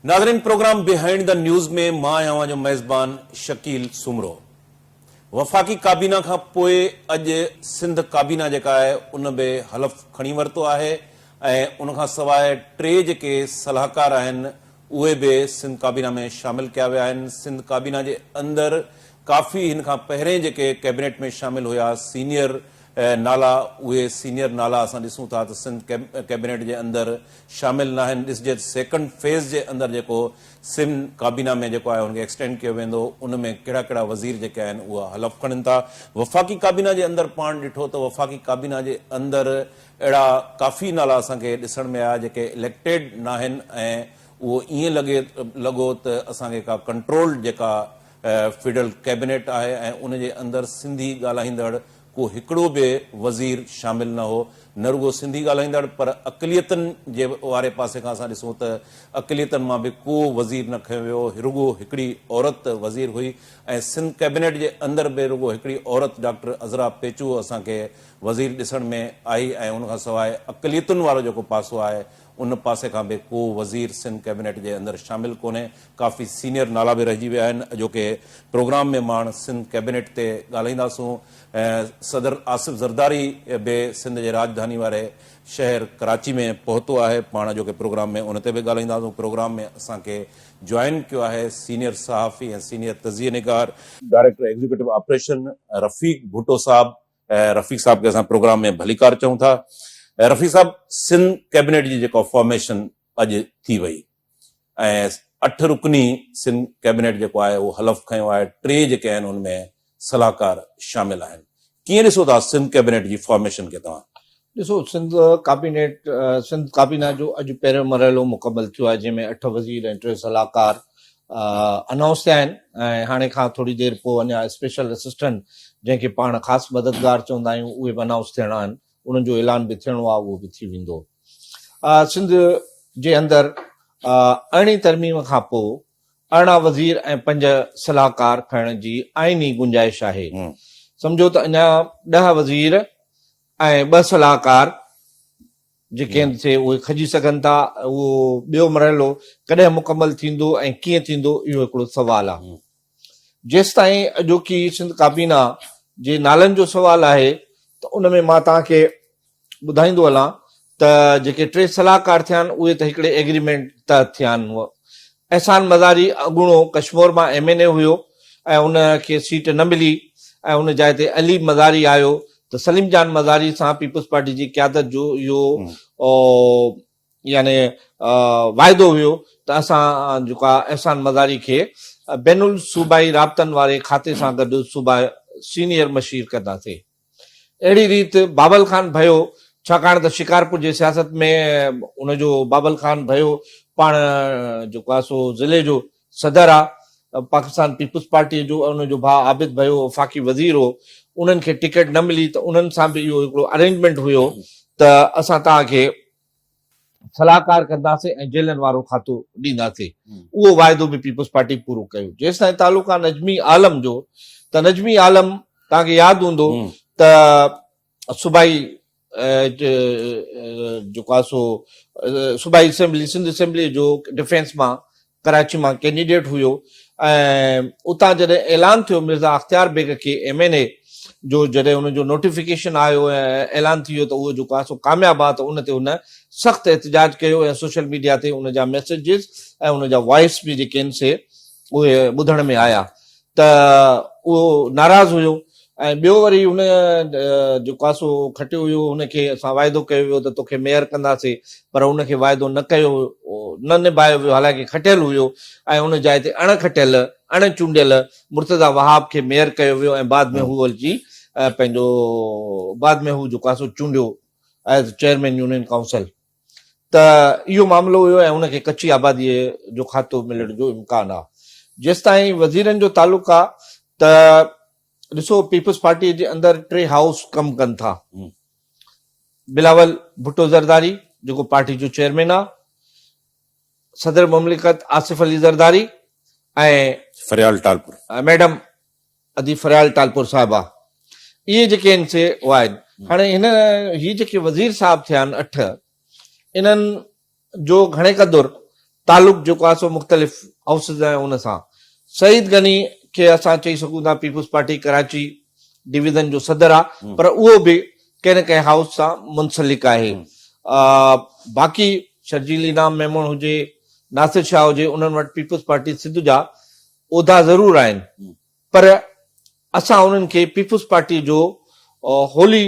ناظرين programme behind the news ۾ مان آهيان اوهان جو ميزبان شڪيل سومرو. وفاقي ڪابينا کان پوء اڄ سنڌ ڪابينا جيڪا آهي ان به حلف کڻي ورتو آهي ۽ ان کان سواء ٽي جيڪي صلاحڪار آهن اهي به سنڌ ڪابينا ۾ شامل ڪيا ويا آهن سنڌ ڪابينا جي اندر ڪافي هن کان پهرين جيڪي ڪيبنيٽ ۾ شامل هيا سينيئر نالا اهي سينيئر نالا اسان ڏسون ٿا ته سنڌ ڪيبنيٽ جي اندر شامل ناهن ڏسجي ته سيڪنڊ فيز جي اندر جيڪو سم ڪابينا ۾ جيڪو آهي ان کي ايڪسٽينڊ ڪيو ويندو ان ۾ ڪهڙا ڪهڙا وزير جيڪي آهن اها حلف کڻن ٿا وفاقي ڪابينا جي اندر پاڻ ڏٺو ته وفاقي ڪابينا جي اندر اهڙا ڪافي نالا اسان کي ڏسڻ ۾ آيا جيڪي اليڪٽيڊ ناهن ۽ اهو ائين لڳي لڳو ته اسان کي ڪا ڪنٽرولڊ جيڪا فيڊرل ڪيبينيٽ آهي ۽ ان جي اندر سنڌي ڳالهائيندڙ ڪو هڪڙو به وزير شامل نه هو، نه رڳو سنڌي ڳالهائيندڙ پر اقليتن جي واري پاسي کان اسان ڏسون ته اقليتن مان به ڪو وزير نه کنيو ويو هو، رڳو هڪڙي عورت وزير هئي ۽ سنڌ ڪيبنيٽ جي اندر به رڳو هڪڙي عورت ڊاڪٽر عذرا پيچو اسان کي وزير ڏسڻ ۾ آئي ۽ ان کان سواء اقليتن وارو جيڪو پاسو آهي ان پاسي کان به ڪو وزير سنڌ ڪيبينيٽ جي اندر شامل ڪونهي، ڪافي سينيئر نالا به رهجي ويا آهن، اڄوڪي پروگرام ۾ ماڻ سنڌ ڪيبينيٽ تي ڳالهائينداسون، صدر آصف زرداري به سنڌ جي راڄڌاني واري شهر ڪراچي ۾ پهتو آهي، پاڻ اڄوڪي پروگرام ۾ ان تي به ڳالهائينداسون، پروگرام ۾ اسان کي جوائن ڪيو آهي سينيئر صحافي ۽ سينيئر تجزيه نگار، director executive operation Rafiq Bhutto sahib Rafiq صاحب کي اسان پروگرام ۾ ڀليڪار چئون ٿا. رفيق صاحب سنڌ ڪيبنيٽ جي جيڪا فارميشن اڄ ٿي وئي ۽ اٺ رڪني سنڌ ڪيبنيٽ جيڪو آهي اهو حلف کنيو آهي ٽي جيڪي آهن ان ۾ صلاحڪار شامل آهن ڪيئن ڏسو ٿا سنڌ ڪيبنيٽ جي فارميشن کي توهان؟ ڏسو سنڌ ڪابينيٽ سنڌ ڪابينا جو اڄ پهريون مرحلو مڪمل ٿيو آهي جنهن ۾ اٺ وزير ۽ ٽي صلاحڪار انائونس ٿيا آهن ۽ هاڻي کان ٿوري دير پوء اڃا اسپيشل اسسٽنٽ جنهن کي پاڻ خاص مددگار چوندا آهيون اهي به انائونس ٿيڻا آهن انهن جو اعلان به ٿيڻو آهي اهو به ٿي ويندو سنڌ جي اندر ارڙهين ترميم کان پوء ارڙهن وزير ۽ پنج صلاحڪار کڻڻ جي آئيني گنجائش آهي سمجھو ته اڃا ڏهه وزير ۽ ٻه صلاحڪار جيڪي هن تي اهي کڄي سگهن ٿا اهو ٻيو مرحلو ڪڏهن مڪمل ٿيندو ۽ ڪيئن ٿيندو اهو هڪڙو سوال آهي جيستائين اڄوڪي سنڌ ڪابينا جي نالن جو سوال آهي ته ان ۾ مان توهان کي ٻڌائيندو هلان ته جيڪي ٽي صلاحڪار ٿيا آهن اهي ته هڪڙي ايگريمينٽ تحت ٿيا آهن هو احسان مزاري اڳوڻو ڪشمور مان ايم اين اي هيو ۽ ان کي سيٽ نه ملي ۽ ان جاء تي علي مزاري آيو ته سليم جان مزاري سان پيپلز پارٽي جي قيادت جو اهو يعني واعدو هيو ته اسان جيڪا احسان مزاري کي بين الصوبائي رابطن واري کاتي سان گڏ صوبا سينيئر مشير ڪنداسين اهڙي ريت بابل خان ڀيو ڇاڪاڻ ته شڪارپور جي سياست ۾ ان جو بابل خان ڀيو پاڻ جيڪو آهي سو ضلعي جو صدر آهي پاڪستان پيپلز پارٽي جو ان جو ڀاء عابد ڀيو وفاقي وزير هو انهن کي ٽڪيٽ نه ملي ته انهن سان به اهو هڪڙو ارينجمينٽ هيو ته اسان توهان کي صلاحڪار ڪنداسين ۽ جيلن وارو کاتو ڏينداسين اهو واعدو به پيپلز پارٽي پورو ڪيو جيستائين تعلق آهي نجمي عالم جو ته نجمي عالم توهان کي ياد هوندو ته صوبائي جيڪو آهي سو صوبائي اسيمبلي سنڌ اسيمبلي جو ڊفينس مان ڪراچي مان ڪينڊيڊيٽ هيو ۽ اتان جڏهن اعلان ٿيو مرزا اختيار بيگ کي ايم اين اي جو جڏهن ان جو نوٽيفڪيشن آيو ۽ اعلان ٿي ويو ته اهو جيڪو آهي سو ڪامياب آهي ته ان تي هن سخت احتجاج ڪيو ۽ سوشل ميڊيا تي ان جا ميسيجز ۽ ان جا وائس به جيڪي آهن سي اهي ٻڌڻ ۾ آيا ته اهو ناراض هيو ۽ ٻيو وري هن جو ڪاسو کٽيو هيو هن کي اسان واعدو ڪيو هيو ته توکي ميئر ڪنداسي پر هن کي واعدو نه ڪيو نه نڀايو ويو حالانڪه کٽيل هيو ۽ ان جاء تي اڻ کٽيل اڻ چونڊيل مرتضيٰ وهاب کي ميئر ڪيو ويو ۽ بعد ۾ هو اچي پنهنجو بعد ۾ هو جو ڪاسو چونڊيو ايز چيئرمين يونين ڪائونسل ته اهو معاملو هيو ۽ ان کي ڪچي آباديء جو کاتو ملڻ جو امڪان آ. جيستائين وزيرن جو تعلق آ ته ڏسو پيپلز پارٽيء جي اندر ٽي هائوس ڪم ڪن ٿا. بلاول ڀٽو زرداري جيڪو پارٽي جو چيئرمين آ، صدر مملڪت آصف علي زرداري ۽ فريال ٽالپر ميڊم ادي فريال ٽالپر صاحب آ اهي جيڪي ان سي هو آهن هاڻي هن هي جيڪي وزير صاحب ٿيا آهن اٺ انهن جو گهڻي قدر تعلق جيڪو آهي سو مختلف هائوسز ۽ ان سان سعيد غني کي اسان چئي سگهون ٿا پيپلز پارٽي ڪراچي ڊويزن جو صدر آ پر اهو به ڪنهن نه ڪنهن هائوس سان منسلڪ آهي باقي شرجيل انعام ميمڻ هجي ناصر شاهه هجي انهن وٽ پيپلز پارٽي سنڌ جا عهدا ضرور آهن پر اسان انهن کي پيپلز پارٽي جو هولي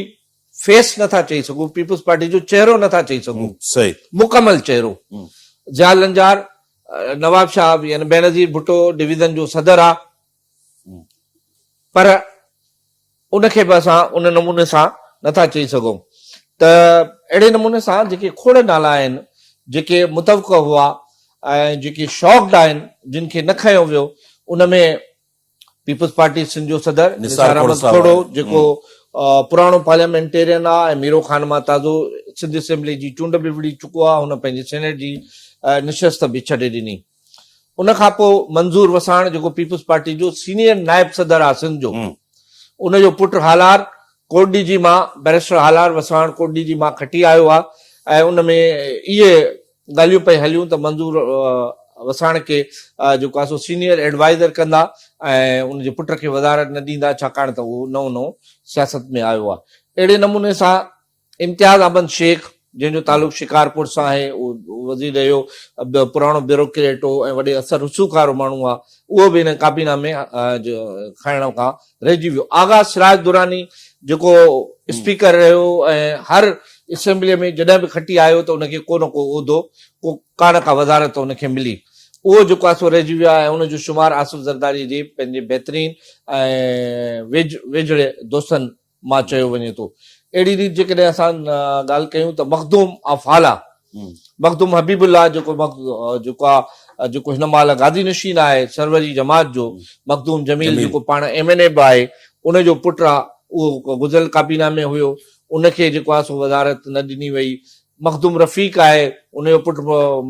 فيس نٿا چئي سگهون پيپلز پارٽي جو چهرو نٿا چئي سگهون مڪمل چهرو ضياء لنجار نواب شاهه يعني بينظير ڀٽو ڊويزن جو صدر آ پر ان کي به اسان ان نموني سان نه ٿا چئي سگهون ته اهڙي نموني سان جيڪي کوڙ نالا آهن جيڪي متوقع هئا ۽ جيڪي شاڪڊ آهن جن کي نه کنيو ويو ان ۾ پيپلز پارٽي سنڌ جو صدر نثار احمد کوڙو جيڪو پراڻو پارليامينٽيرين آهي ۽ ميرو خان مان تازو سنڌ اسيمبلي جي چونڊ به وڙهي چڪو آهي هن پنهنجي سينيٽ جي نشست به ڇڏي ڏني ان کان پوء منظور وساڻ جيڪو پيپلز پارٽي جو سينيئر نائب صدر آ سنڌ جو ان جو پٽ هالار ڪوٽڏي جي مان بئريسٽر هالار وساڻ ڪوٽڏي جي مان کٽي آيو آ ۽ ان ۾ اهي ڳالهيون پئي هليون ته منظور وساڻ کي جيڪو آ سو سينيئر ايڊوائزر ڪندا ۽ ان جي پٽ کي وزارت نه ڏيندا ڇاڪاڻ ته اهو نئون نئون سياست ۾ آيو آ اهڙي نموني سان امتياز احمد شيخ، جنهن جو تعلق شڪارپور سان آهي، اهو وزير رهيو، پراڻو بيوروڪريٽ هو ۽ وڏي اثر رسوخ وارو ماڻهو آهي، اهو به هن ڪاپي نامي کڻڻ کان رهجي ويو. آغا سراج دراني، جيڪو اسپيڪر رهيو ۽ هر اسيمبليء ۾ جڏهن به کٽي آيو ته ان کي ڪو نه ڪو عهدو، ڪو ڪا نه ڪا وزارت ان کي ملي، اهو جيڪو آهي سو رهجي ويو آهي ۽ ان جو شمار آصف زرداريء جي پنهنجي بهترين ۽ ويجهڙي دوستن مان چيو وڃي ٿو. اهڙي ريت جيڪڏهن اسان ڳالهه ڪيون ته مخدوم آف هالا، مخدوم حبيب الله جيڪو جيڪو آ جيڪو هن مهل گادي نشين آهي سروري جماعت جو، مخدوم جميل جيڪو پاڻ ايم اين اي به آهي ان جو پٽ آ اهو گذريل ڪابينا ۾ هيو ان کي جيڪو آ سو وزارت نه ڏني وئي مخدوم رفيق آهي ان جو پٽ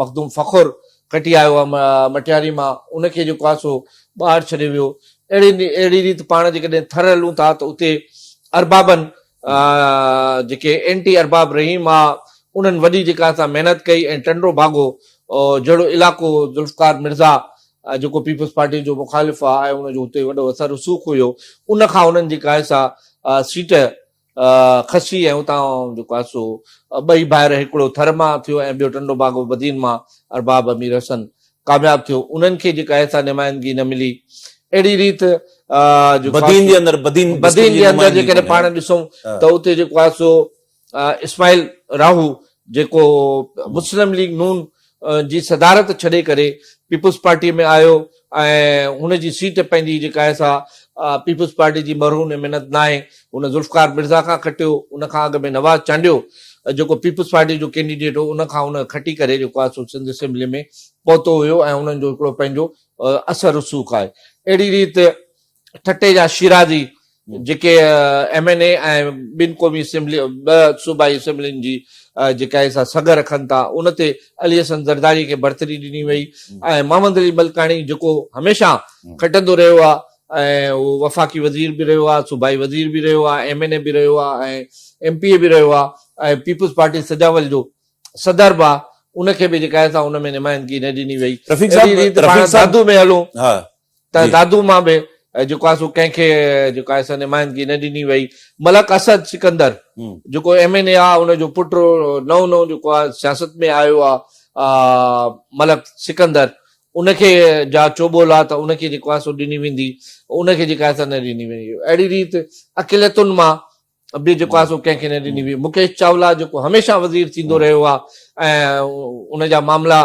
مخدوم فخر کٽي آيو آهي مٽياري مان ان کي جيڪو آهي سو ٻاهر ڇڏيو ويو اهڙي اهڙي ريت پاڻ جيڪڏهن ٿر هلون ٿا ته اتي اربابن جيڪي اينٽي ارباب رحيم آ انهن وڏي جيڪا سا محنت ڪئي ۽ ٽنڊو ڀاڳو جهڙو علائقو ذوالفقار مرزا جيڪو پيپلز پارٽي جو مخالف آ ۽ ان جو اتي وڏو اثر رسوخ هيو ان کان انهن جيڪا آهي سا سيٽ خصي ۽ اتان جيڪو آهي سو ٻئي ڀائر هڪڙو ٿر مان ٿيو ۽ ٻيو ٽنڊو باغ بدين مان ارباب امير حسن ڪامياب ٿيو انهن کي جيڪا آهي سا نمائندگي نه ملي اهڙي ريت جيڪو بدين جي اندر بدين بدين جي اندر جيڪڏهن پاڻ ڏسون ته اتي جيڪو آهي سو اسماعيل راهو جيڪو مسلم ليگ نون جي صدارت ڇڏي ڪري پيپلز پارٽيء ۾ آيو ۽ هن جي سيٽ پنهنجي جيڪا آهي سا پيپلز پارٽيء جي مرهون ۽ منت ناهي، هن ذوالفقار مرزا کان کٽيو، ان کان اڳ ۾ نواز چانڊيو جيڪو پيپلز پارٽيء جو ڪينڊيڊيٽ هو، ان کان هن کٽي ڪري جيڪو آهي سو سنڌ اسيمبليء ۾ پهتو هيو ۽ انهن جو هڪڙو پنهنجو اثر رسوخ آهي. اهڙي ريت ٺٽي جا شيرازي جيڪي ايم اين اي ۽ ٻن قومي اسيمبلي ٻه صوبائي اسيمبلين جي جيڪا آهي سا سگهه رکن ٿا ان تي علي حسن زرداري کي برتري ڏني وئي ۽ محمد علي ملڪاڻي جيڪو هميشه کٽندو رهيو آهي ۽ وفاقي وزير به رهيو آهي صوبائي وزير به رهيو آهي ايم اين اي به رهيو آهي ۽ ايم پي اي به رهيو آهي ۽ پيپلز پارٽي سجاول جو صدر به آهي ان کي به جيڪا آهي سا ان ۾ نمائندگي نه ڏني وئي رفيق صاحب رفيق صاحب ۾ هلون ته دادو مان به جيڪو آهي سو ڪنهن کي جيڪو آهي سو نمائندگي نه ڏني وئي ملڪ اسد سڪندر جيڪو ايم اين اي آهي ان جو پٽ نئون نئون جيڪو آهي سياست ۾ آيو آهي ملڪ سڪندر ان کي جا چوٻول آهي ته ان کي جيڪو آهي سو ڏني ويندي ان کي جيڪا آهي سا نه ڏني ويندي اهڙي ريت اقليتن مان به جيڪو آهي سو ڪنهن کي نه ڏني وئي مڪيش چاولا جيڪو هميشه وزير ٿيندو رهيو آهي ۽ ان جا معاملا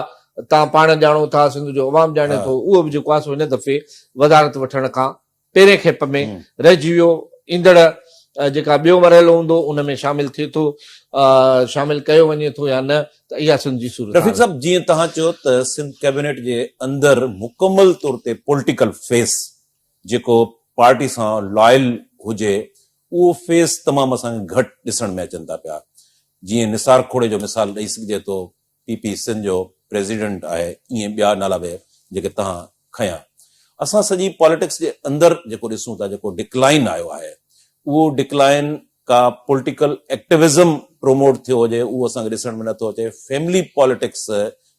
تان پاڻ ڄاڻو ٿا سنڌ جو عوام ڄاڻي ٿو اهو به جيڪو آهي سو هن دفعي وزارت وٺڻ کان پهرين کيپ ۾ رهجي ويو ايندڙ جيڪا ٻيو مرحلو هوندو ان ۾ شامل ٿئي ٿو شامل ڪيو وڃي ٿو يا نه ته اها سنڌ جي صورت رفيق صاحب جيئن توهان چيو ته سنڌ ڪيبينيٽ جي اندر مڪمل طور تي پوليٽيڪل فيس جيڪو پارٽي سان لائل هجي اهو فيس تمام اسان کي گهٽ ڏسڻ ۾ اچن ٿا پيا جيئن نثار کوڙي جو مثال ڏئي سگهجي ٿو پي پي سنڌ جو پريزيڊنٽ آهي ائين ٻيا نالا به جيڪي تهان کنيا اسان سڄي پاليٽڪس جي اندر جيڪو ڏسون ٿا جيڪو ڊڪلائن آيو آهي اهو ڊڪلائن ڪا پولٽيڪل ايڪٽيوزم پروموٽ ٿيو هجي اهو اسان کي ڏسڻ ۾ نه ٿو اچي فيملي پاليٽڪس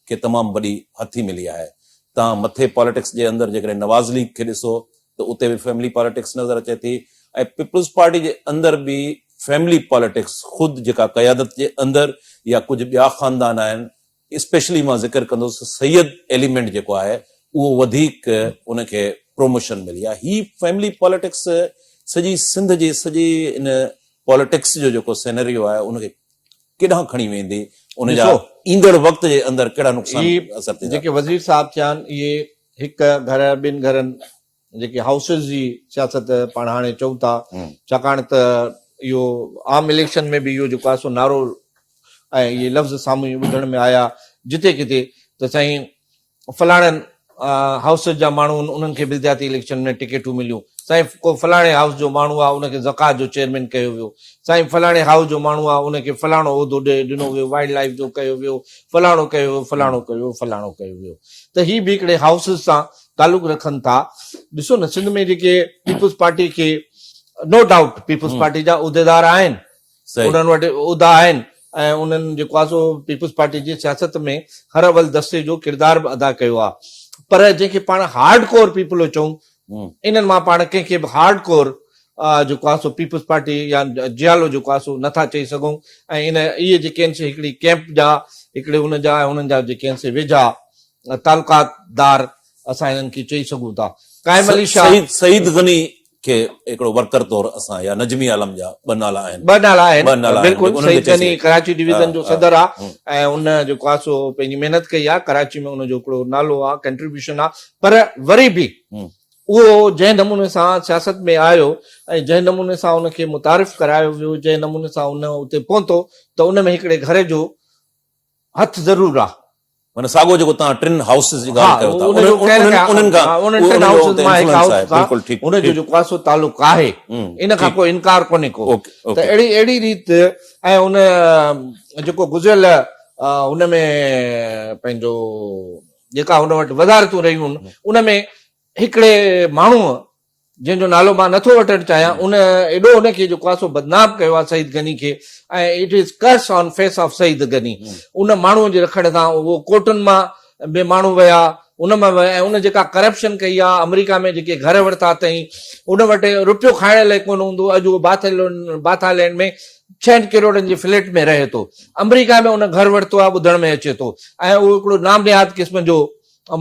کي تمام وڏي هٿي ملي آهي تان مٿي پاليٽڪس جي اندر جيڪڏهن نواز ليگ کي ڏسو ته اتي به فيملي پاليٽڪس نظر اچي ٿي ۽ پيپلز پارٽي جي اندر به فيملي پاليٽڪس خود جيڪا قيادت جي اندر يا ڪجهه ٻيا خاندان آهن اسپيشلي مان ذڪر ڪندس سيد ايليمينٽ جيڪو آهي اهو وڌيڪ ان کي پروموشن ملي آهي هي فيملي پاليٽڪس سڄي سنڌ جي سڄي ان پاليٽڪس جو جيڪو سينريو آهي ان کي ڪيڏانهن کڻي ويندي ان جا ايندڙ وقت جي اندر ڪهڙا نقصان اثر ٿيندا جيڪي وزير صاحب ٿيا آهن اهي هڪ گهر ٻن گهرن جيڪي هائوسز جي سياست پاڻ هاڻي چئون ٿا ڇاڪاڻ ته اهو عام اليڪشن ۾ به اهو جيڪو آهي سو نعرو ۽ اهي لفظ سامهون ٻڌڻ ۾ آيا جتي ڪٿي ته سائين فلاڻن هائوسز جا ماڻهو انهن کي بلدياتي اليڪشن ۾ ٽڪيٽون مليون سائين ڪو فلاڻي هائوس جو ماڻهو آهي ان کي زڪات جو چيئرمين ڪيو ويو سائين فلاڻي هائوس جو ماڻهو آهي ان کي فلاڻو عهدو ڏنو ويو وائلڊ لائف جو ڪيو ويو فلاڻو ڪيو ويو فلاڻو ڪيو ويو فلاڻو ڪيو ويو ته هي به هڪڙي هائوسز سان تعلق رکن ٿا ڏسو نه سنڌ ۾ جيڪي پيپلز پارٽي کي نو ڊائوٽ پيپلز پارٽي جا عهديدار آهن انهن وٽ عهدا آهن ۽ انهن جيڪو آهي سو پيپلز پارٽي جي سياست ۾ هر اول دستي جو ڪردار به ادا ڪيو آهي پر جنهن کي پاڻ هارڊ ڪور پيپلو چون انهن مان پاڻ ڪنهن کي به هارڊ ڪور جيڪو آهي سو پيپلز پارٽي يا جيالو جيڪو آهي سو نٿا چئي سگهون ۽ ان اهي جيڪي آهن سي هڪڙي ڪيمپ جا هڪڙي ان جا انهن جا جيڪي آهن سي ويجها تعلقات دار اسان هنن کي چئي سگهون ٿا. قائم علي شاهه. سعيد غني کي هڪڙو ورڪر طور اسان يا نجمي عالم جا ٻه نالا آهن. ٻه نالا آهن. ٻه نالا آهن. بلڪل سعيد غني ڪراچي ڊويزن جو صدر آ ۽ ان جيڪو آ سو پنهنجي محنت ڪئي آ ڪراچي ۾ ان جو هڪڙو نالو آ ڪنٽريبيوشن آ پر وري به اهو جنهن نموني سان سياست ۾ آيو ۽ جنهن نموني سان ان کي متعارف ڪرايو ويو جنهن نموني سان ان اتي پهتو ته ان ۾ هڪڙي گهر جو هٿ ضرور آ. معنيٰ ساڳو جيڪو توهان ٽن هائوسز جي ڳالهه ڪيو ٿا انهن کان انهن ٽن هائوسز مان هڪ هائوس سان ان جو جيڪو آهي سو تعلق آهي ان کان ڪو انڪار ڪونهي ڪو ته اهڙي اهڙي ريت ۽ ان جيڪو گذريل ان ۾ پنهنجو جيڪا هن وٽ وزارتون رهيون ان ۾ هڪڙي ماڻهوء جنهن جو نالو مان نٿو وٺڻ چاهيان ان ايڏو ان کي جو ڪاسو بدنام ڪيو آهي سعيد غني کي ۽ it is curse on face of Saeed Ghani ان ماڻهو جي رکڻ سان اهو ڪورٽن مان به ماڻهو ويا ان مان ويا ۽ ان جيڪا ڪرپشن ڪئي آهي آمريڪا ۾ جيڪي گهر ورتا اٿئي ان وٽ روپيو کائڻ لاء ڪونه هوندو اڄ اهو باٿا لينڊ ۾ ڇهن ڪروڙن جي فليٽ ۾ رهي ٿو آمريڪا ۾ ان گهر ورتو آهي ٻڌڻ ۾ اچي ٿو ۽ اهو هڪڙو نام نهاد قسم جو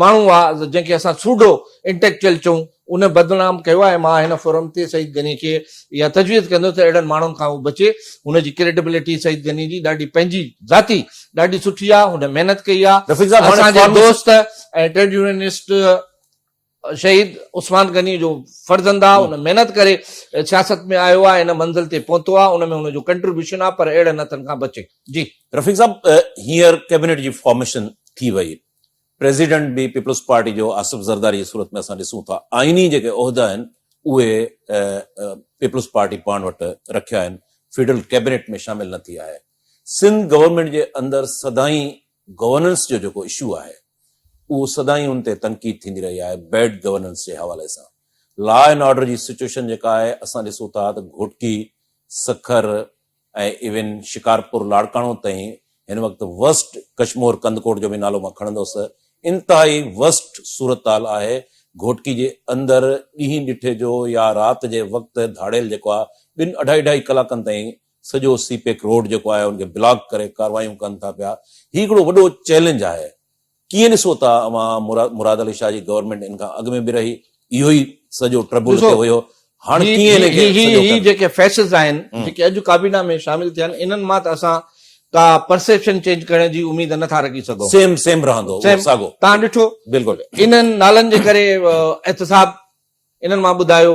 ماڻهو آ جنهن کي اسان سوڊو انٽيڪچوئل چئون ان بدنام ڪيو آ ۽ مان هن فورم تي سعيد غني کي اها تجويز ڪندس ته اهڙن ماڻهن کان هو بچي هن جي ڪريڊبلٽي سعيد غني جي ڏاڍي پنهنجي ذاتي ڏاڍي سٺي آ هن محنت ڪئي آ رفيق صاحب هاڻي اسان جي دوست ۽ ٽريڊ يونينسٽ شهيد عثمان غني جو فرزند آ هن محنت ڪري سياست ۾ آيو آ ان منزل تي پهتو آ ان ۾ هن جو ڪنٽريبيوشن آ پر اهڙن هٿن کان بچي جي. رفيق صاحب هينئر ڪيبنيٽ جي فارميشن ٿي وئي پريزيڊنٽ به پيپلز پارٽي جو آصف زرداري جي صورت ۾ اسان ڏسون ٿا آئيني جيڪي عهدا آهن اهي پيپلز پارٽي پاڻ وٽ رکيا آهن فيڊرل ڪيبنيٽ ۾ شامل نه ٿي آهي سنڌ گورنمينٽ جي اندر سدائين گورننس جو جيڪو اشو آهي اهو سدائين ان تي تنقيد ٿيندي رهي آهي بيڊ گورننس جي حوالي سان لا اينڊ آرڊر جي سچويشن جيڪا آهي اسان ڏسون ٿا ته گهوٽڪي سکر ۽ ايون شڪارپور لاڙڪاڻو تائين هن وقت ورسٽ ڪشمور ڪنڌڪوٽ جو به نالو مان کڻندس انتهائي ورسٽ صورتحال آهي گهوٽڪي جي اندر ڏينهن ڏٺي جو يا رات جي وقت ڌاڙيل جيڪو آهي ٻن اڍائي اڍائي ڪلاڪن تائين سڄو سي پيڪ روڊ جيڪو آهي ان کي بلاڪ ڪري ڪاروايون ڪن ٿا پيا هي هڪڙو وڏو چئلينج آهي. ڪيئن ڏسو ٿا اوهان مراد علي شاهه جي گورنمينٽ ان کان اڳ ۾ به رهي اهو ئي سڄو ٽربل ٿيو هيو هاڻ ڪيئن ان کي سڄو هي جيڪي فيسز آهن جيڪي اڄ ڪابينا ۾ شامل ٿيا آهن انهن مان ته اسان ڪا پرسيپشن چينج ڪرڻ جي اميد نه ٿا رکي سگهون سيم سيم رهندو ساڳو تان ڏٺو بلڪل انهن نالن جي ڪري احتساب انهن مان ٻڌايو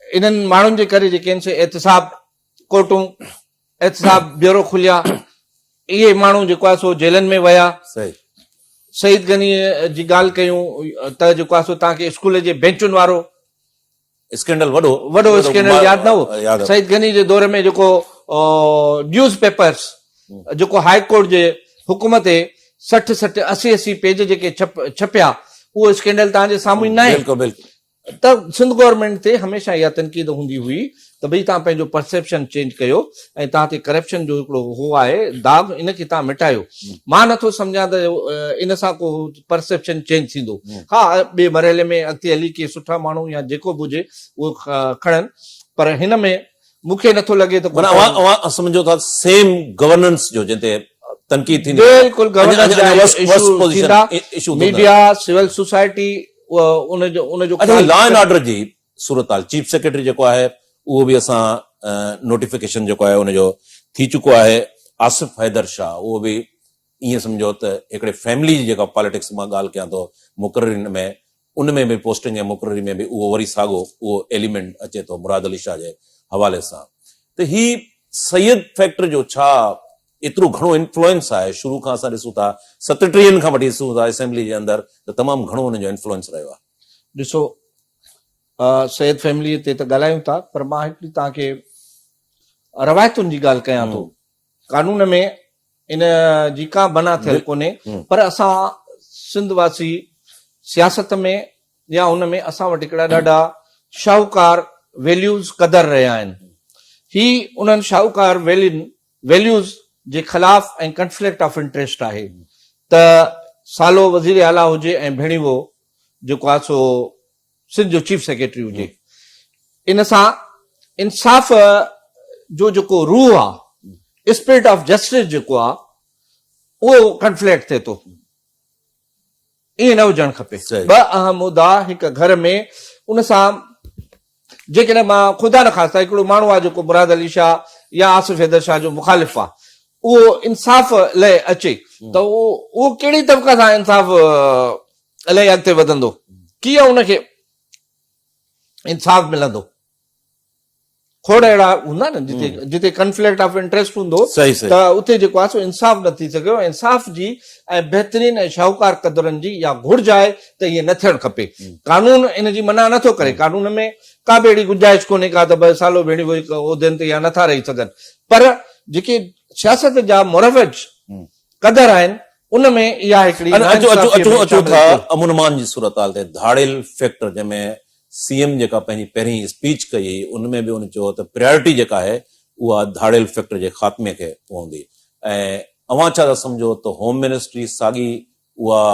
انهن ماڻهن جي ڪري جيڪي آهن سي احتساب ڪورٽون احتساب بيورو کليا اهي ماڻهو جيڪو آهي سو جيلن ۾ ويا سعيد غني جي ڳالهه ڪيون ته جيڪو آهي سو توهان کي اسڪول جي بينچن وارو اسڪينڊل وڏو وڏو اسڪينڊل ياد نه هو سعيد غني جي دور ۾ جيڪو نيوز پيپرس جيڪو هاء ڪورٽ جي حڪم تي سٺ سٺ اسي اسي پيج جيڪي ڇپيا اهو اسڪينڊل تهان جي سامهون نه آهي ته سنڌ گورنمينٽ تي هميشه اها تنقيد هوندي هئي ته ڀئي توهان پنهنجو پرسيپشن چينج ڪيو ۽ توهان تي ڪرپشن جو هڪڙو هو آهي داغ ان کي توهان مٽايو مان نٿو سمجهان ته ان سان ڪو پرسيپشن چينج ٿيندو ها ٻئي مرحلي ۾ اڳتي هلي ڪي سٺا ماڻهو يا جيڪو به هجي اهو کڻن پر هن ۾ مون کي نٿو لڳي ته معنيٰ اوهان سمجهو ٿا سيم گورننس جو جنهن تي تنقيد ٿيندي بلڪل گورننس جا ايشو ٿيندا ميڊيا سول سوسائٽي اچا لا اينڊ آرڊر جي صورتحال چيف سيڪريٽري جيڪو آهي اهو به اسان نوٽيفڪيشن جيڪو آهي ان جو ٿي چڪو آهي آصف حيدر شاهه اهو به ائين سمجهو ته هڪڙي فيملي جي جيڪا پاليٽڪس مان ڳالهه ڪيان ٿو مقررين ۾ ان ۾ به پوسٽنگ ۽ مقرري ۾ به اهو وري ساڳو اهو ايليمنٽ اچي ٿو مراد علي شاهه جي حوالي سان ته هي سيد فيڪٽر جو ڇا ايترو گهڻو انفلوئنس آهي شروع کان اسان ڏسون ٿا ستٽيهن کان وٺي ڏسون ٿا اسيمبلي جي اندر ته تمام گهڻو انهن جو انفلوئنس رهيو آهي. ڏسو سيد فيملي تي ته ڳالهايون ٿا پر مان هڪڙي توهان کي روايتن جي ڳالهه ڪيان ٿو قانون ۾ ان جي ڪا بنا ٿيل ڪونهي پر اسان سنڌ واسي سياست ۾ يا ان ۾ اسان وٽ هڪڙا ڏاڍا شاهوڪار ويليوز قدر رهيا آهن هي انهن شاهوڪار ويلين ويليوز جي خلاف ۽ ڪنفليڪٽ آف انٽريسٽ آهي ته سالو وزير اعليٰ هجي ۽ ڀيڻيوو جيڪو آهي سو سنڌ جو چيف سيڪريٽري هجي ان سان انصاف جو جيڪو روح آهي اسپرٽ آف جسٽس جيڪو آهي اهو ڪنفليڪٽ ٿئي ٿو. ائين نه هجڻ کپي. ٻه اهم مدا هڪ گهر ۾ ان سان جيڪڏهن مان خدا نه خاصتا هڪڙو ماڻهو آ جيڪو مراد علي شاهه يا آصف حيدر شاهه جو مخالف آ اهو انصاف لئه اچي ته اهو ڪهڙي طبقه سان انصاف لئه اڳتي وڌندو ڪيئن ان کي انصاف ملندو. کوڙ اهڙا هوندا نه جتي جتي ڪنفليڪٽ آف انٽريسٽ هوندو ته اتي جيڪو آهي سو انصاف نه ٿي سگهيو انصاف جي ۽ بهترين ۽ شاهوڪار قدرن جي يا گهرج آهي ته ائين نه ٿيڻ کپي قانون ان جي منع نٿو ڪري قانون ۾ ڪا به اهڙي گنجائش ڪونهي ڪا ته ٻه سالو ڀيڻي وئي عهدن تي يا نٿا رهي سگهن پر جيڪي سياست جا مروج قدر آهن ان ۾ اها هڪڙي اچو اچو اچو ٿا امن امان جي صورتحال تي ڌاڙيل فيڪٽر جنهن ۾ سي ايم جيڪا پنهنجي پهرين اسپيچ ڪئي هئي ان ۾ به هن چيو ته پريارٽي جيڪا آهي اها ڌاڙيل فيڪٽر جي خاتمي کي پوندي ۽ اوهان ڇا ٿا سمجهو ته هوم منسٽري ساڳي اها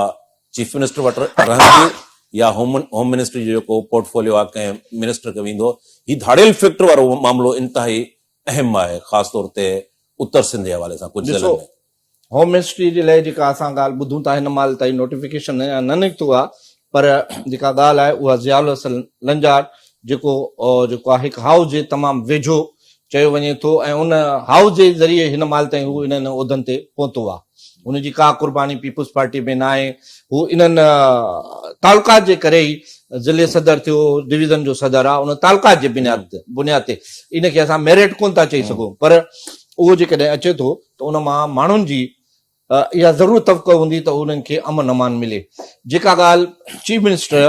چيف منسٽر وٽ رهندي يا هوم هوم منسٽري جو جيڪو پورٽ فوليو آهي ڪنهن منسٽر کي ويندو هي ڌاڙيل فيڪٽر وارو معاملو انتهائي اهم آهي خاص طور تي اتر سنڌ جي حوالي سان ڪجهه ضلعن ۾ هوم منسٽري جي لئه جيڪا اسان ڳالهه ٻڌون ٿا هن مهل تائين نوٽيفڪيشن اڃا نه نڪتو آهي پر جيڪا ڳالهه آهي اها ضياء الحسن لنجار جيڪو جيڪو آهي هڪ هائوس جي تمام ويجهو چيو وڃي ٿو ۽ ان هائوس جي ذريعي هن مهل تائين هو انهن عهدن تي پهتو آهي ان جي ڪا قرباني پيپلز پارٽي ۾ نه آهي هو انهن تعلقات جي ڪري ئي ضلعي صدر ٿيو ڊويزن جو صدر آهي ان تعلقات جي بنياد بنياد تي ان کي اسان ميرٽ ڪون ٿا چئي سگهون پر اهو جيڪڏهن اچي ٿو ته ان مان ماڻهن جي اها ضرور توقع هوندي ته انهن کي امن امان ملي. جيڪا ڳالهه چيف منسٽر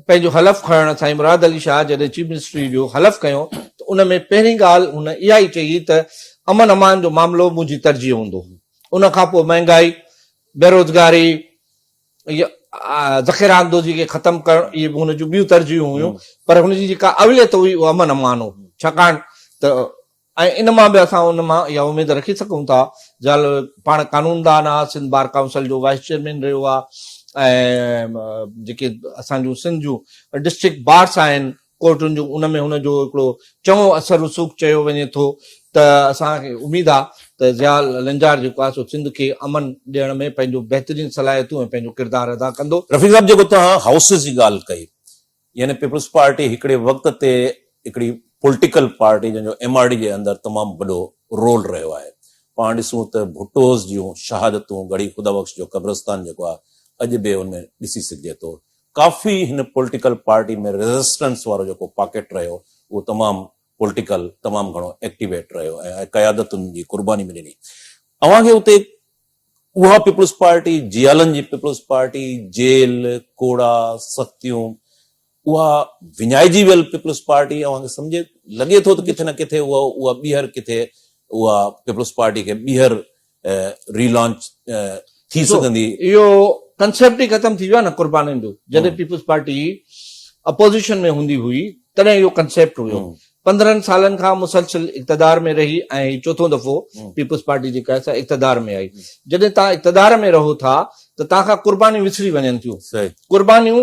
پنهنجو حلف کڻڻ سائين مراد علي شاهه جڏهن چيف منسٽري جو حلف کنيو ته ان ۾ پهرين ڳالهه هن اها ئي چئي ته امن امان جو معاملو منهنجي ترجيح هوندو. ان کان پوء مهنگائي، بيروزگاري يا ذخيره اندوزي کي ختم ڪرڻ اهي به هن جون ٻيون ترجيحون هيون پر هن جي جيڪا اوليت هئي اها امن امان هو ڇاڪاڻ ته ۽ ان مان به اسان ان مان اها اميد رکي سگهون ٿا جا پاڻ قانوندان آ سنڌ بار ڪائونسل جو وائيس چيئرمين رهيو آ ۽ جيڪي اسان جون سنڌ جون ڊسٽرڪٽ بارس آهن ڪورٽن جون ان ۾ هن جو هڪڙو چڱو اثر رسوخ چيو وڃي ٿو ته اسان کي اميد آ ته ضياء لنجار جيڪو آ سو سنڌ کي امن ڏيڻ ۾ پنهنجو بهترين صلاحيتون ۽ پنهنجو ڪردار ادا ڪندو. رفيق صاحب جيڪو توهان هائوسز جي ڳالهه ڪئي يعني پيپلز پارٽي هڪڙي وقت تي هڪڙي پولٽيڪل پارٽي جنهن جو ايم آر ڊي جي اندر تمام وڏو رول رهيو آهي پاڻ ڏسون ته ڀٽوز جون شهادتون ڳڙهي خدا بخش جو قبرستان جيڪو آهي اڄ به ان ۾ ڏسي سگهجي ٿو ڪافي هن پولٽيڪل پارٽي ۾ ريزسٽنس وارو جيڪو پاڪيٽ رهيو اهو تمام پولٽيڪل تمام گهڻو ايڪٽيويٽ رهيو ۽ قيادتن جي قرباني به ڏني اوهان کي اتي اها پيپلز پارٽي جيالن جي پيپلز پارٽي جيل، ڪوڙا، سختيون اها وڃائجي ويل پيپلز پارٽي اوهان کي سمجهي لڳي ٿو ته ڪٿي نه ڪٿي اها اها ٻيهر ڪٿي اها پيپلز پارٽي کي ٻيهر ري لانچ ٿي سگهندي؟ اهو ڪنسيپٽ ئي ختم ٿي ويو آهي نه قربانين جو جڏهن پيپلز پارٽي اپوزيشن ۾ هوندي هئي تڏهن اهو ڪنسيپٽ هيو پندرهن سالن کان مسلسل اقتدار ۾ رهي ۽ هي چوٿون دفعو پيپلز پارٽي جيڪا آهي سا اقتدار ۾ آئي جڏهن توهان اقتدار ۾ رهو ٿا ته توهان کان قربانيون وسري وڃن ٿيون قربانيون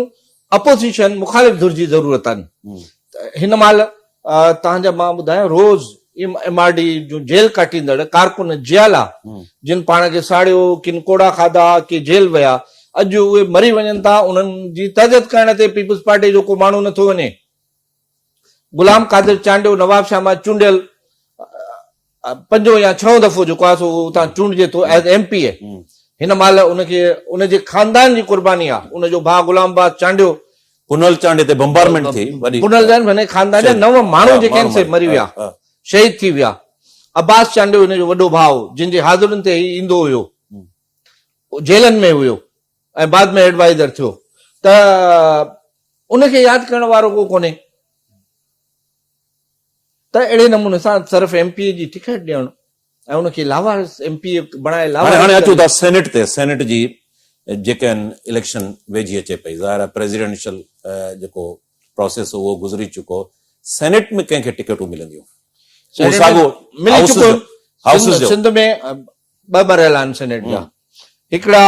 اپوزيشن مخالف ڌر جي ضرورت آهن هن مهل توهان جا مان ٻڌايان روز ايم آر ڊي جون جيل ڪاٽيندڙ ڪارڪن جيالا جن پاڻ کي ساڙيو ڪن ڪوڙا کاڌا ڪي جيل ويا اڄ اهي مري وڃن ٿا انهن جي تهجت ڪرڻ تي پيپلز پارٽي جو ڪو ماڻهو نٿو وڃي غلام قادر چانڊيو نوابشاهه مان چونڊيل پنجون يا ڇهون دفعو جيڪو آهي سو اتان چونڊجي ٿو ايز ايم پي اي هن مال ان کي ان جي خاندان جي قرباني آهي ان جو ڀاء غلام باز چانڊيو پنهل چانڊيو تي بمبارمنٽ ٿي وڏي پنهل جان هن خاندان جا نو ماڻهو جيڪي آهن سي مري ويا شهيد ٿي ويا عباس چانڊيو هن جو وڏو ڀاء جن جي حاضرين تي هي ايندو هيو جيلن ۾ هيو ۽ بعد ۾ ايڊوائيزر ٿيو ته ان کي ياد ڪرڻ وارو ڪو ڪونهي ته اهڙي نموني سان صرف ايم پي اي جي ٽڪيٽ ڏيڻ ۽ ان کي لاوارث ايم پي اي بڻائي لاوارث هاڻي اچو ٿا سينيٽ تي سينيٽ جي جيڪي آهن اليڪشن ويجهي اچي پئي ظاهر آهي پريزيڊنشل جيڪو پروسيس اهو گذري چڪو سينيٽ ۾ ڪنهن کي ٽڪيٽون ملنديون سنڌ ۾ ٻه مرحلا آهن سينيٽ جا هڪڙا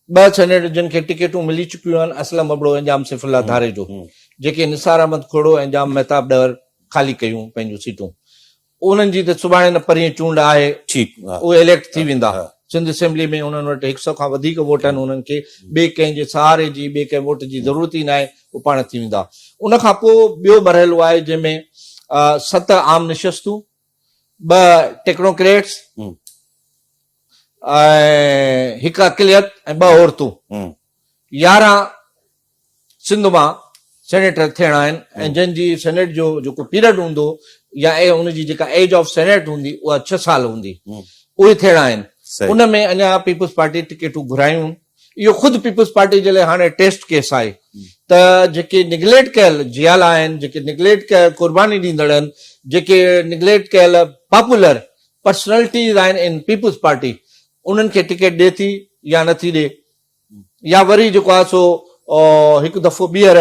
ٻه سينيٽ جن کي ٽڪيٽون ملي چڪيون آهن اسلم ابڙو ۽ ڄام سيف الله ڌاري جو جيڪي نثار احمد کوڙو ۽ ڄام مهتاب ڏهر خالي ڪيون پنهنجون سيٽون انهن جي ته سڀاڻي نه پرينء چونڊ آهي اهي اليڪٽ ٿي ويندا سنڌ اسيمبلي ۾ انهن وٽ هڪ سؤ کان وڌيڪ ووٽ آهن انهن کي ٻئي ڪنهن جي سهاري جي ٻئي ڪنهن ووٽ جي ضرورت ئي ناهي اهي پاڻ ٿي ويندا ان کان پوء ٻيو مرحلو آهي جنهن ۾ ست عام نشستون ٻه ٽيڪنوڪريٽس ۽ هڪ اقليت ۽ ٻه عورتون يارهن سنڌ مان سينيٽر ٿيڻا آهن ۽ جن جي سينيٽ جو جيڪو پيريڊ هوندو يا ان جي جيڪا ايج آف سينيٽ هوندي اها ڇهه سال هوندي اهي ٿيڻا آهن ان ۾ اڃا پيپلز پارٽي ٽڪيٽون گهرايون اهو خود پيپلز پارٽي جي لاء هاڻي ٽيسٽ ڪيس آهي ته جيڪي نگليٽ ڪيل جيالا آهن، جيڪي نگليٽ ڪيل قرباني ڏيندڙ آهن، جيڪي نگليٽ ڪيل پاپولر پرسنالٽيز آهن ان پيپلز پارٽي انهن کي ٽڪيٽ ڏي ٿي يا نه ٿي ڏي يا وري جيڪو آهي سو هڪ دفعو ٻيهر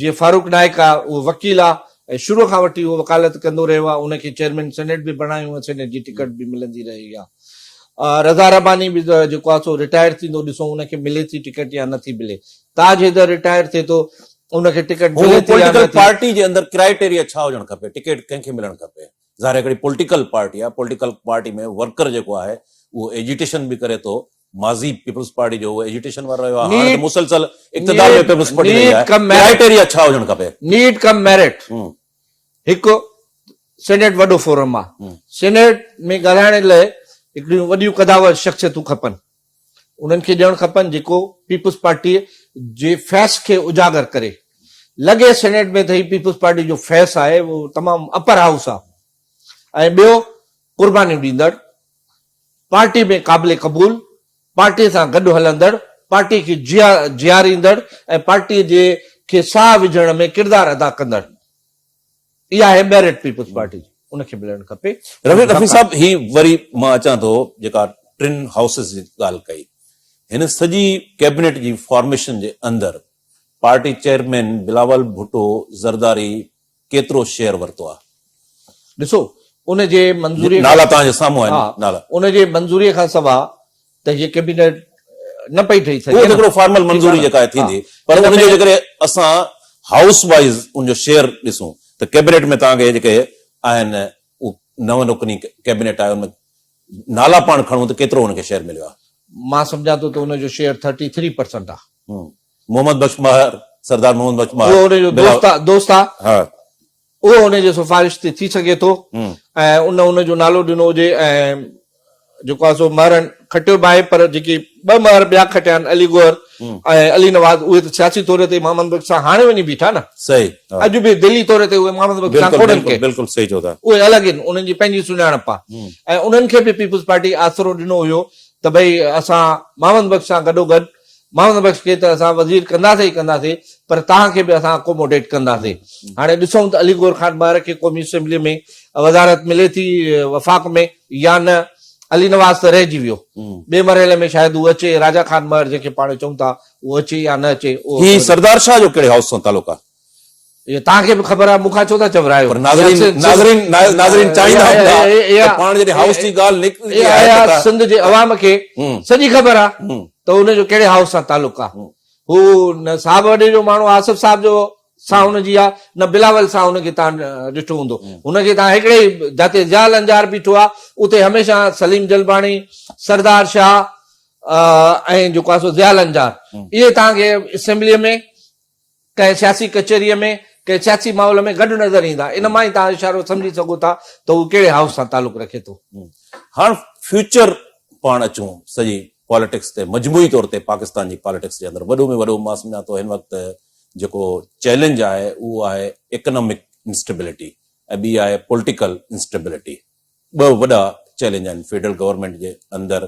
جيئن فاروق نائيڪ آهي اهو وڪيل آهي ۽ شروع کان وٺي اهو وڪالت ڪندو رهيو آهي ان کي چيئرمين سينيٽ به بڻايو ۽ سينيٽ جي ٽڪيٽ به ملندي رهي آهي. رضا رباني به ته جيڪو آهي سو رٽائر ٿيندو ڏسون ان کي ملي ٿي ٽڪيٽ يا نه ٿي ملي. تاج حيدر رٽائر ٿئي ٿو ان کي ٽڪيٽ ملي ٿي يا نه ٿي. پوليٽيڪل پارٽي جي اندر ڪرائيٽيريا ڇا هجڻ کپي ٽڪيٽ ڪنهن کي ملڻ کپي ظاهر هڪڙي پوليٽيڪل پارٽي آهي پوليٽيڪل پارٽي ۾ ورڪر جيڪو آهي اهو ايجيٽيشن به ڪري ٿو ماضي پيپلز پارٽي جو اهو ايجيٽيشن وارو رهيو آهي هاڻ ته مسلسل اقتدار ۾ پيپلز پارٽي رهي آهي ڪرائيٽيريا ڇا هجڻ کپي نيڊ ڪم ميرٽ هڪ سينيٽ وڏو فورم آ سينيٽ ۾ ڳالهائڻ لاء هڪڙيون وڏيون قداور شخصيتون کپن انهن کي ڄڻ کپن جيڪو پيپلز پارٽي جي فيس کي اجاگر ڪري لڳي سينيٽ ۾ ته هي پيپلز پارٽي جو فيس آهي اهو تمام اپر هائوس آ ۽ ٻيو قربانيون ڏيندڙ پارٽي ۾ قابل قبول پارٽي سان گڏ هلندڙ، پارٽي کي جياريندڙ ۽ پارٽي جي کي ساهه وجهڻ ۾ ڪردار ادا ڪندڙ ئي آهي ميرٽ پيپلز پارٽي جي ان کي ملڻ کپي. رفيق رفيق صاحب هي وري مان اچان ٿو جيڪا ٽن هائوسز جي ڳالهه ڪئي هن سڄي ڪيبنيٽ جي فارميشن جي اندر پارٽي چيئرمين بلاول ڀٽو زرداري ڪيترو شيئر ورتو آهي ڏسو ان جي منظوري نالا توهان جي سامهون آهن نالا ان جي منظوري کان سوا ته هي ڪيبينيٽ نه پئي ٺهي سگهي اهو هڪڙو فارمل منظوري جيڪا آهي ٿيندي پر ان جو جيڪڏهن اسان هائوس وائز ان جو شيئر ڏسون ته ڪيبينيٽ ۾ توهان کي جيڪي آهن نو رڪني ڪيبينيٽ آهي ان ۾ نالا پاڻ کڻون ته ڪيترو ان کي شيئر مليو آهي مان سمجهان ٿو ته ان جو شيئر ٿرٽي ٿري پرسنٽ آهي محمد بخش ماهر، سردار محمد بخش ماهر. اهو ان جو دوست آ، دوست آ. ها. اهو ان جي سفارش تي ٿي سگهي ٿو ۽ ان ان جو نالو ڏنو هجي ۽ جيڪو آ سو مهرن کٽيو به آهي پر جيڪي ٻه مهر ٻيا کٽيا آهن علي گوهر ۽ علي نواز اهي ته سياسي طور تي محمد بخش سان هاڻي وڃي بيٺا نه. صحيح ها. اڄ به دلي طور تي اهي محمد بخش سان ڪونهن ڪي. بلڪل صحيح چئو ٿا. اهي الڳ آهن انهن جي پنهنجي سڃاڻپ آ ۽ انهن کي به پيپلز پارٽي آسرو ڏنو هيو ته ڀئي اسان محمد بخش سان گڏو گڏ محمد بخش کي ته اسان وزير ڪنداسين ئي ڪنداسين پر توهان کي به اسان اڪوموڊيٽ ڪنداسين هاڻي ڏسون ته علي گور خان مهر کي قومي اسيمبلي ۾ وزارت ملي ٿي وفاق ۾ يا نه علي نواز ته رهجي ويو ٻئي مرحلي ۾ شايد هو اچي راجا خان مهر جنهن کي پاڻ چئون ٿا اهو اچي يا نه اچي اهو هي سردار شاهه جو ڪهڙي هائوس سان تعلق آهي؟ اهو توهان کي به خبر آهي، مون کان ڇو ٿا چورايو؟ اها سنڌ جي عوام کي سڄي خبر آهي ته هن جو ڪهڙي هائوس سان تعلق آهي. هو نه صاحب وڏي جو ماڻهو آصف صاحب جو سان هن جي آهي، نه بلاول سان هن کي توهان ڏٺو هوندو. هن کي توهان هڪڙي ئي جتي ضياء لنجار بيٺو آهي، اتي هميشه سليم جلباڻي، سردار شاهه ۽ جيڪو آهي سو ضياء لنجار اهي توهان کي اسيمبليء ۾، ڪنهن سياسي ڪچهريء ۾ ڪنهن سياسي ماحول ۾ گڏ نظر ايندا. ان مان ئي توهان اشارو سمجهي سگهو ٿا ته هو ڪهڙي هائوس سان تعلق رکي ٿو. هاڻ فيوچر پاڻ اچون سڄي پاليٽڪس تي مجموعي طور تي پاڪستان جي پاليٽڪس جي اندر وڏو ۾ وڏو مان سمجهان ٿو هن وقت جيڪو چئلينج آهي اهو آهي ايڪنامڪ انسٽيبلٽي ۽ ٻي آهي پولٽيڪل انسٽيبلٽي ٻه وڏا چئلينج آهن فيڊرل گورنمينٽ جي اندر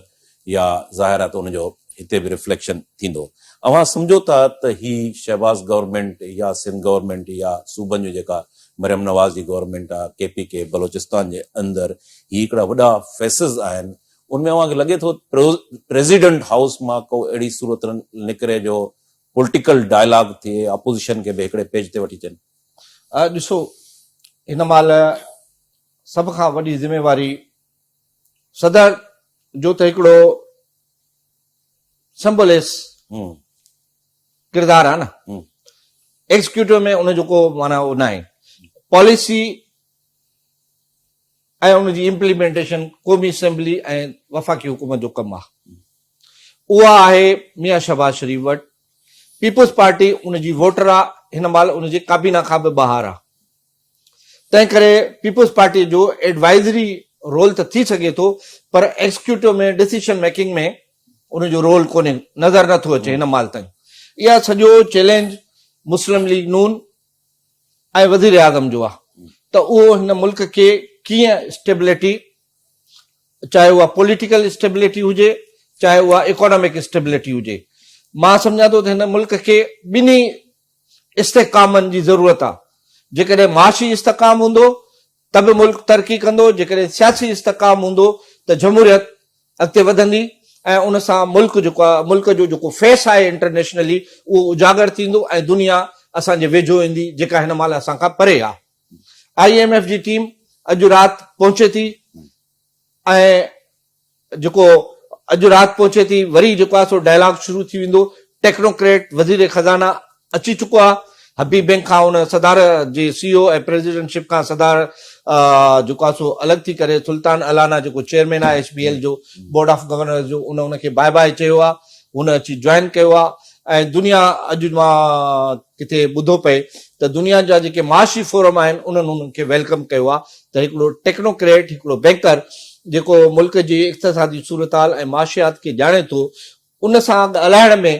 يا ظاهر آهي ته ان جو هتي به رفليڪشن ٿيندو. اوهان سمجهو ٿا ته هي شهباز گورنمينٽ يا سنڌ گورنمينٽ يا صوبن جون جيڪا مريم نواز جي گورنمينٽ آهي ڪي پي ڪي بلوچستان جي اندر هي هڪڙا وڏا فيسز آهن ان ۾ اوهان کي لڳي ٿو پريزيڊنٽ هائوس مان ڪو اهڙي صورت نڪري جو پولٽيڪل ڊائلاگ ٿئي اپوزيشن کي به هڪڙي پيج تي وٺي اچن. ڏسو هن مهل سڀ کان وڏي ذميواري صدر جو ته هڪڙو سمبولس ڪردار آهي نه ايگزيڪيوٽو ۾ ان جو ڪو معنی اهو نه آهي پاليسي ۽ ان جي امپليمينٽيشن قومي اسيمبلي ۽ وفاقي حڪومت جو ڪم آهي اها آهي ميان شهباز شريف وٽ پيپلز پارٽي ان جي ووٽر آهي هن مهل ان جي ڪابينا کان به ٻاهر آهي تنهنڪري پيپلز پارٽي جو ايڊوائزري رول ته ٿي سگهي ٿو پر ايڪزيڪيوٽو ۾ ڊسيشن ميڪنگ ۾ ان جو رول ڪونهي نظر نه ٿو اچي هن مال تائين اها سڄو چئلينج مسلم ليگ نون ۽ وزير اعظم جو آهي ته اهو هن ملڪ کي ڪيئن اسٽيبلٽي چاهي اها پوليٽيڪل اسٽيبلٽي هجي چاهي اها اڪانامڪ اسٽيبلٽي هجي مان سمجهان ٿو ته هن ملڪ کي ٻنهي استحڪامن جي ضرورت آ، جيڪڏهن معاشي استحڪام هوندو ته به ملڪ ترقي ڪندو، جيڪڏهن سياسي استحڪام هوندو ته جمهوريت اڳتي وڌندي ۽ ان سان ملڪ جيڪو آ ملڪ جو جيڪو فيس آهي انٽرنيشنلي اهو اجاگر ٿيندو ۽ دنيا اسان جي ويجهو ايندي جيڪا هن مهل اسان کان پري آ. آء ايم ايف جي ٽيم اڄ رات پهچي ٿي ۽ جيڪو اڄ رات پهچي ٿي وري جيڪو آهي سو ڊائلاگ شروع ٿي ويندو ٽيڪنوڪريٽ وزير خزانه اچي چڪو آهي حبيب بينڪ کان ان صدار جي سي او ۽ پريزيڊنٽ شپ کان صدار جيڪو آهي سو الڳ ٿي ڪري سلطان الانا جيڪو چيئرمين آهي ايچ بي ايل جو بورڊ آف گورنرز جو ان ان کي باء باء چيو آهي هن اچي جوائن ڪيو آهي ۽ دنيا اڄ مان ڪٿي ٻڌو پئي ته دنيا جا جيڪي معاشي فورم آهن انهن انهن کي ويلڪم ڪيو آهي ته هڪڙو ٽيڪنوڪريٽ هڪڙو بينڪر جيڪو ملڪ جي اقتصادي صورتحال ۽ معاشيات کي ڄاڻي ٿو ان سان ڳالهائڻ ۾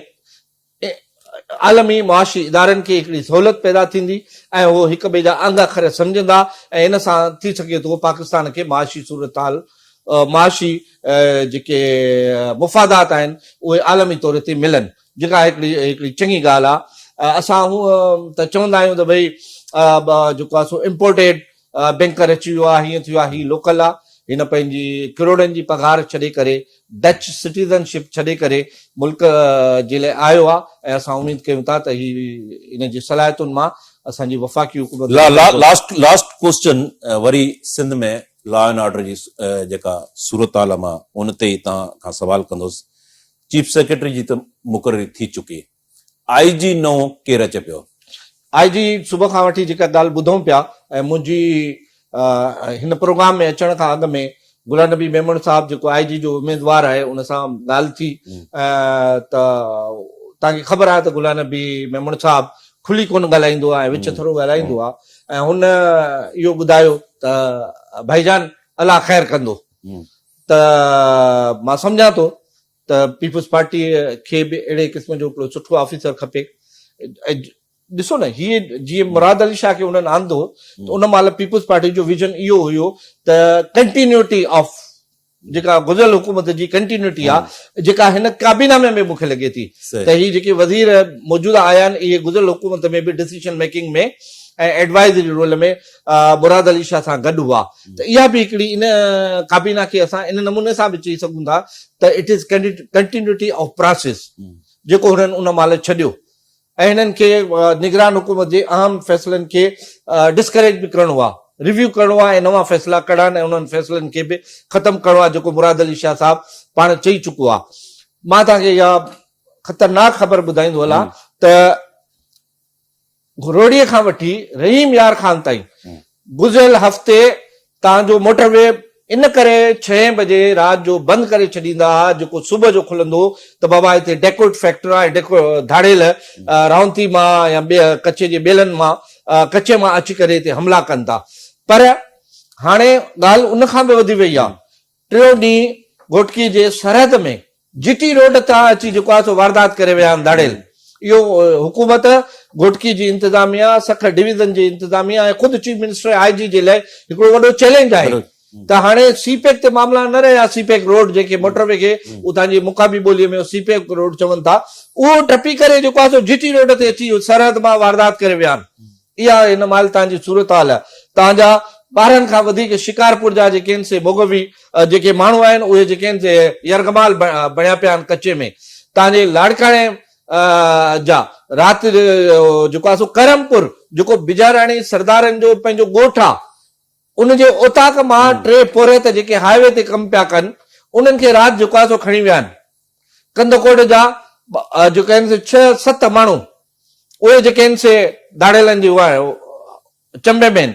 عالمي معاشي ادارن کي هڪڙي سهولت پيدا ٿيندي ۽ هو هڪ ٻئي جا آنگا خر سمجهندا ۽ ان سان ٿي سگهي ٿو پاڪستان کي معاشي صورتحال معاشي جيڪي مفادات آهن اهي عالمي طور تي ملن. جيڪا هڪڙي هڪڙي چڱي ڳالهه آ اسان هونء ته چوندا آهيون ته ڀئي جيڪو آ سو امپورٽيڊ بينڪر اچي ويو آ هيئن ٿيو آ هي لوڪل آ هن پنهنجي ڪروڙن جي پگهار ڇڏي ڪري ڊچ سٽيزن شپ ڇڏي ڪري ملڪ جي لاء آيو آ ۽ اسان اميد ڪيون ٿا ته هي ان جي صلاحيتن مان اسان جي وفاقي حڪومت لاسٽ لاسٽ ڪوسچن وري سنڌ ۾ لا اينڊ آرڊر جي جيڪا صورتحال آ مان ان تي ئي توهان کان سوال ڪندس چيف سيڪريٽري جي ته مقرري ٿي چڪي، آء جي نئون ڪير اچي پيو؟ آء جي صبح کان وٺي جيڪا ڳالهه ٻڌون پيا ۽ منهنجي هن پروگرام ۾ اچڻ کان اڳ ۾ گلان نبي ميمڻ صاحب جيڪو آء جي جو اميدوار آهي ان سان ڳالهه ٿي ته توهان کي خبر آهي ته گلان نبي ميمڻ صاحب کلي ڪونه ڳالهائيندو آهي وچ ٿورو ڳالهائيندو آهي ۽ هن اهو ٻڌايو ته ڀائي جان الله خير ڪندو ته مان سمجهان ٿو ته پيپلز پارٽي کي به اهڙي قسم جو هڪڙو سٺو آفيسر کپي ڏسو نه هي جي مراد علي شاهه کي انهن آندو ته ان مهل پيپلز پارٽي جو ويزن اهو هيو ته ڪنٽينيوٽي آف جيڪا گذريل حڪومت جي ڪنٽينيوٽي آهي جيڪا هن ڪابينا ۾ به مونکي لڳي ٿي ته هي جيڪي وزير موجوده آيا آهن اهي گذريل حڪومت ۾ به decision making ۾ ۽ advisory role ۾ Murad Ali Shah سان گڏ هئا ته اها به هڪڙي ان ڪابينا کي اسان ان نموني سان به چئي سگهون ٿا ته it is continuity of process جيڪو هنن ان مهل ڇڏيو ۽ هنن کي نگران حڪومت جي اهم فيصلن کي ڊسڪريج به ڪرڻو آهي ريويو ڪرڻو آهي ۽ نوان فيصلا ڪڙا ۽ انهن فيصلن کي به ختم ڪرڻو آهي جيڪو مراد علي شاهه صاحب پاڻ چئي چڪو آهي مان توهان کي اها خطرناڪ خبر ٻڌائيندو هلان ته گھروڙيء کان وٺي رحيم يار خان تائين گذريل هفتي تان جو موٽر وي ان ڪري ڇهين بجي رات جو بند ڪري ڇڏيندا ها جيڪو صبح جو کلندو ته بابا هتي ڊيڪوٽ فيڪٽرا ۽ ڌاڙيل رهونتي مان يا ٻي ڪچي جي ٻيلن مان ڪچي مان اچي ڪري هتي حملا ڪن ٿا پر هاڻي ڳالهه ان کان به وڌي وئي آهي ٽيون ڏينهن گهوٽڪي جي سرحد ۾ جي ٽي روڊ تان اچي جيڪو آهي سو واردات ڪري ويا آهن ڌاڙيل. اهو حڪومت، گهوٽڪي جي انتظاميا، سکر ڊويزن جي انتظاميا ۽ خود چيف منسٽر ۽ آء جي جي لاء هڪڙو وڏو چئلينج آهي ته هاڻي سي پيڪ تي معاملا نه رهيا سي پيڪ روڊ جيڪي موٽر وي کي اتان جي مقامي ٻولي ۾ سي پيڪ روڊ چون ٿا اهو ٽپي ڪري جيڪو آهي سو جي ٽي روڊ تي اچي سرحد مان واردات ڪري ويا آهن اها هن مهل تان جي صورتحال آهي. تان جا ٻارهن کان وڌيڪ شڪارپور جا جيڪي هن سي بوگوي جيڪي ماڻهو آهن اهي جيڪي هن سي يرغمال بڻيا پيا آهن ڪچي ۾ تان جي لاڙڪاڻي جا رات جيڪو آهي سو ڪرم پور جيڪو بجاراڻي سردارن جو پنهنجو ڳوٺ آهي. ان جي اوطاق مان ٽي پورهيت جيڪي هاء وي تي ڪم پيا ڪن انهن کي رات جو ڪا سو کڻي ويا آهن. ڪنڌڪوٽ جا جيڪي آهن سي ڇهه ست ماڻهو اهي جيڪي آهن سي ڌاڙيلن جي اها چنبي ۾ آهن.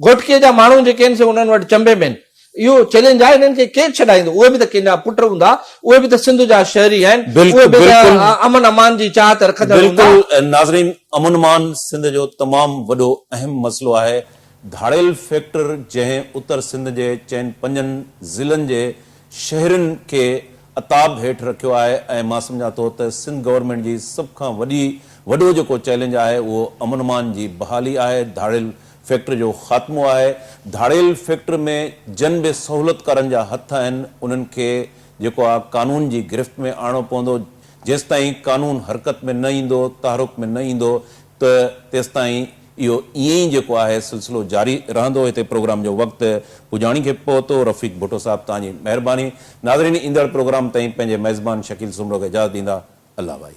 گهوٽڪي جا ماڻهو جيڪي آهن سي انهن وٽ چنبي ۾ آهن. اهو چئلينج آهي انهن کي ڪير ڇڏائيندو اهي به ته ڪنهن جا پٽ هوندا اهي به ته سنڌ جا شهري آهن اهي به ته امن امان جي چاهت رکندڙ هوندا. بلڪل ناظرين امن امان سنڌ جو تمام وڏو اهم مسئلو آهي ڌاڙيل فيڪٽر جنهن اتر سنڌ جي چئن پنجن ضلعن جي شهرين کي عتاب هيٺ رکيو آهي ۽ مان سمجهان ٿو ته سنڌ گورنمينٽ جي سڀ کان وڏي وڏو جيڪو چئلينج آهي اهو امن امان جي بحالي آهي ڌاڙيل فيڪٽر جو خاتمو آهي ڌاڙيل فيڪٽر ۾ جن به سهولتڪارن جا هٿ آهن انهن کي جيڪو آهي قانون جي گرفت ۾ آڻڻو پوندو جيستائين قانون حرڪت ۾ نه ايندو تحرڪ ۾ نه ايندو ته تيستائين اهو ائين ئي جيڪو آهي سلسلو جاري رهندو هتي پروگرام جو وقت پڄاڻي کي پهتو رفيق ڀٽو صاحب توهان جي مهرباني ناظرين ايندڙ پروگرام تائين پنهنجي ميزبان شڪيل سومرو کي اجازت ڏيندا الله ڀائي.